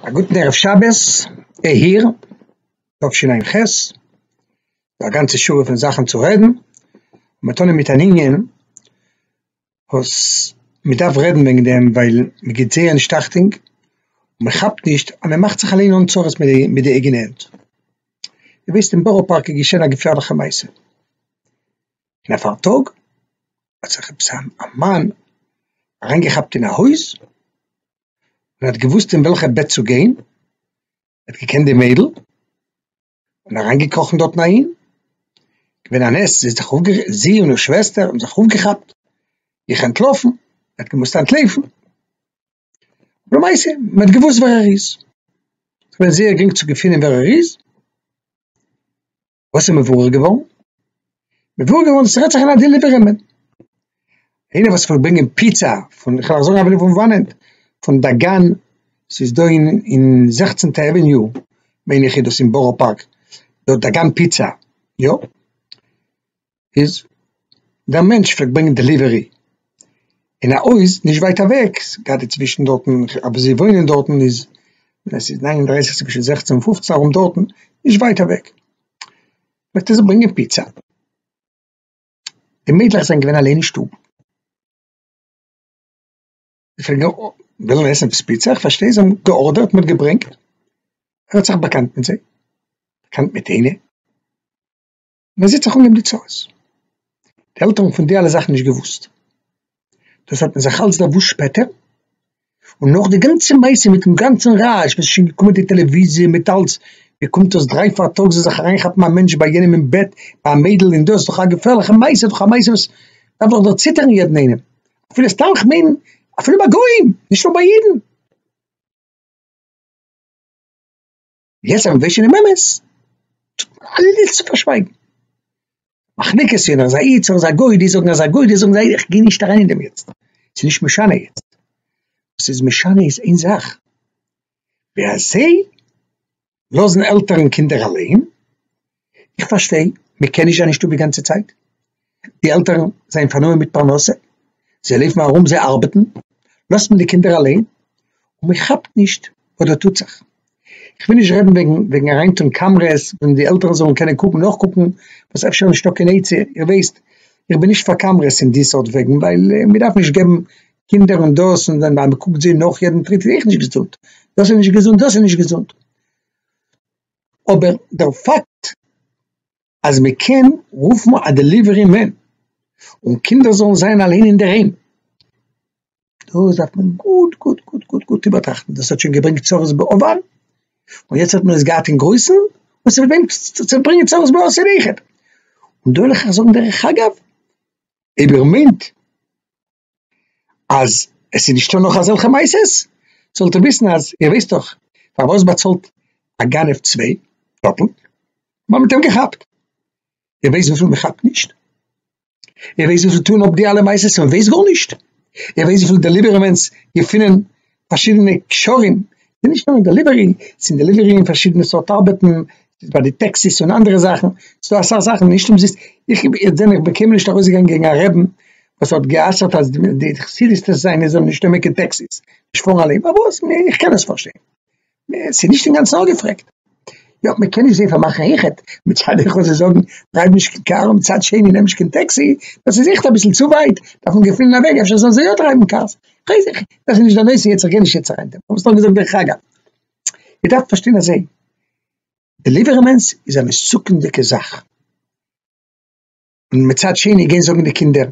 א גוטן ערב שבת אייר תשע ע ח, א גאנצע שורה פון זאכן צו רעדן, מ'טאן מיט אן ענין וואס מ'דארף רעדן וועגן דעם ווייל מ'גיבט זייער נישט אכטונג, מ'כאפט נישט אז מ'מאכט זיך אליין אן צרות מיט די אייגענע הענט, איר וויסט אין בארא פארק איז געשען א געפערליכע מעשה. און א פארטאג האט זיך עפעס א מאן אריין געכאפט אין א הויז, און האט געוואוסט אין וועלכע בעט צו גיין, ער האט געקענט די מיידל, און אריין געקראכן דארטן אהין, געווען א נס זי האט זיך אויף, זי און איר שוועסטער האבן זיך אויפגעכאפט, זיך אנטלאפן, ער האט געמוזט אנטלויפן, למעשה מען האט געוואוסט ווער ער איז, ס'איז געווען זייער גרינג צו געפינען ווער ער איז, וואס איז מבורר געווארן? מבורר געווארן אז ס'רעדט זיך אין א דעליווערמען. איינער וואס פארט ברענגען פיצא פון, איך וועל זאגן אפילו פון וואנעט, פון דאגאן, ס'איז דא אין אין זעכצענטע עוועניו, מיין איך איז דאס אין בארא פארק, דארט דאגאן פיצא, יא? איז דער מענטש פלעגט ברענגען דעליווערי אין א הויז נישט ווייט אוועק, גראדע צווישן דארטן אוואו זיי וואוינען דארטן איז עס איז נײַן און דרײַסיק צווישן זעכצן און פֿופֿצן ארום דארטן נישט ווייט אוועק פלעגט ער זיך ברענגען פיצא, די מיידלעך זענען געווען אליין אין שטוב ווילן עסן עפעס פיצא איך פארשטיי זיי האבן געארדערט מען האט געברענגט ער האט זיך באקאנט מיט זיי באקאנט מיט איינע. מען זעט זיך אן געבן די צרות, די עלטערן פון די אלע זאכן נישט געוואוסט, דאס האט מען זיך אלץ דערוואוסט שפעטער, און נאך די גאנצע מעשה מיטן גאנצן רעש וואס איז שוין געקומען די טעלעוויזיע מיט אלץ, ווי קומט דאס דריי פאר טאג זאל זיך אריין כאפן א מענטש ביי יענעם אין בעט, ביי א מיידל אין דאס דאך א געפערליכע מעשה, דאך א מעשה וואס דארף דאך דערציטערן יעדן איינעם, אפילו סתם כ'מיין אפילו ביי גוים, נישט נאר ביי אידן. יעצט אז מ'ווייסט שוין דעם אמת, טוט מען אלעס צו פארשווייגן. מחלוקת ווער איז א איד, ווער איז א גוי, די זאגן אז א גוי, די זאגן אז א איד, כ'גיי נישט אריין אין דעם יעצט, ס'איז נישט משנה יעצט. וואס ס'איז משנה איז איין זאך, ווי אזוי לאזן עלטערן קינדער אליין, איך פארשטיי מען קען נישט זיין אין שטוב די גאנצע צייט, די עלטערן זענען פארנומען מיט פרנסה, זיי לויפן ארום זיי ארבעטן, לאזט מען די קינדער אליין און מען כאפט נישט וואס דא טוט זיך, איך וויל נישט רעדן וועגן וועגן אריין טון קאמרעס ווען די עלטערן זאלן קענען קוקן נאכקוקן וואס אפשר נישטא קיין עצה, איר ווייסט איך בין נישט פאר קאמרעס אין די סארט וועגן ווייל מען דארף נישט געבן קינדער און דאס און ווען מען קוקט זיי נאך יעדן טריט איז אויך נישט געזונט, דאס איז נישט געזונט דאס איז נישט געזונט. אבער דער פאקט אז מען קען רופן א דעליווערי מען און קינדער זאלן זיין אליין אינדערהיים, דאס דארף מען גוט גוט גוט גוט גוט איבערטראכטן, דאס האט שוין געברענגט צרות בעבר, און יעצט האט מען עס געהאט אין גרויסן, און ס'וועט ברענגען צעברענגען צרות בעתיד איכער, און דא וועל איך אייך זאגן דרך אגב, אויב איר מיינט אז עס איז נישטא נאך אזעלכע מעשות, זאלט איר וויסן אז איר ווייסט דאך פארוואס באצאלט א גנב צוויי טראפלט ווייל מען האט אים געכאפט, איר ווייסט וויפיל מען כאפט נישט? איר ווייסט וויפיל טוהן אפ די אלע מעשות און מען ווייסט גארנישט? איר ווייסט וויפיל דעליווערמענטס געפינען פארשידענע קשרים, ס'איז נישט נאר אין דעליווערי, ס'איז אין דעליווערי און פארשידענע סארט ארבעטן, ס'איז ביי די טעקסיס און אנדערע זאכן, ס'דא אסאך זאכן נישט אומזיסט, איך בין איך זע מיך בין קיינמאל נישט ארויסגעגאנגען קעגן א רעבין וואס האט גע'אסר'ט אז די חסידות'דיגע זיינע זאלן נישט נעמען קיין טעקסיס, נישט פארן אליין, פארוואס? איך קען עס פארשטיין. עס איז נישט אינגאנצן אפגעפרעגט. יא, מען קען נישט זעהן פאר מאכן איחוד, מצד אחד זיי זאגן דרייוו נישט קיין קאר און מצד שני נעם נישט קיין טעקסי, דאס איז עכט אביסל צו ווייט, דארף מען געפינען א וועג אפשר זאלן זיי יא דרייוון קארס, כ'ווייס דאס איז נישט די נושא יעצט, כ'גיי נישט יעצט אריין דעם, כ'האב עס נאר געזאגט דרך אגב. איר דארפט פארשטיין אזוי, דעליווערמענטס איז א מסוכנ'דיגע זאך, און מצד שני גיין זאגן די קינדער,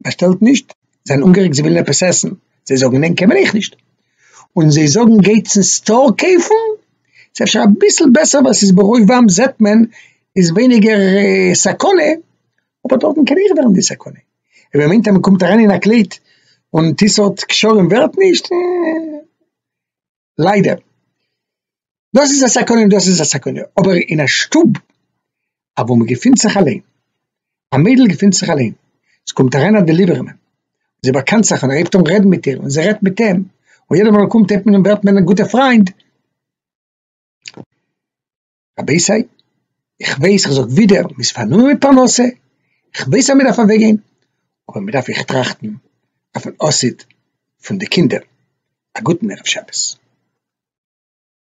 באשטעלט נישט, זיי זענען אנגערעגט זיי ווילן עפעס עסן, זיי זאגן נען קען מען אייך נישט, און זיי זאגן גייטס אין סטאר קויפן, ס'איז אפשר אביסל בעסער ווייל ס'איז ברובם זעט מען איז ווייניגער סכנה, אבער דארטן קען אויך ווערן די סכנה, און ווער מיינט אז מ'קומט אריין אין א קלעט און טיסארט קשרים ווערט נישט, אה. ליידער, דאס איז א סכנה און דאס איז א סכנה, אבער אין א שטוב אוואו מען געפינט זיך אליין, א מיידל געפינט זיך אליין, עס קומט אריין א דעליווערמען, זי באקאנט זיך און ער הייבט אן רעדן מיט איר און זי רעדט מיט אים, און יעדע מאל ער קומט הייבט מען אן ווערט מען א גוטע פריינד, רבי'סיי, איך ווייס איך זאג ווידער מען איז פארנומען מיט פרנסה, איך ווייס אז מען דארף אוועק גיין, אבער מען דארף אויך טראכטן אויפן עתיד פון די קינדער, א גוטן ערב שבת.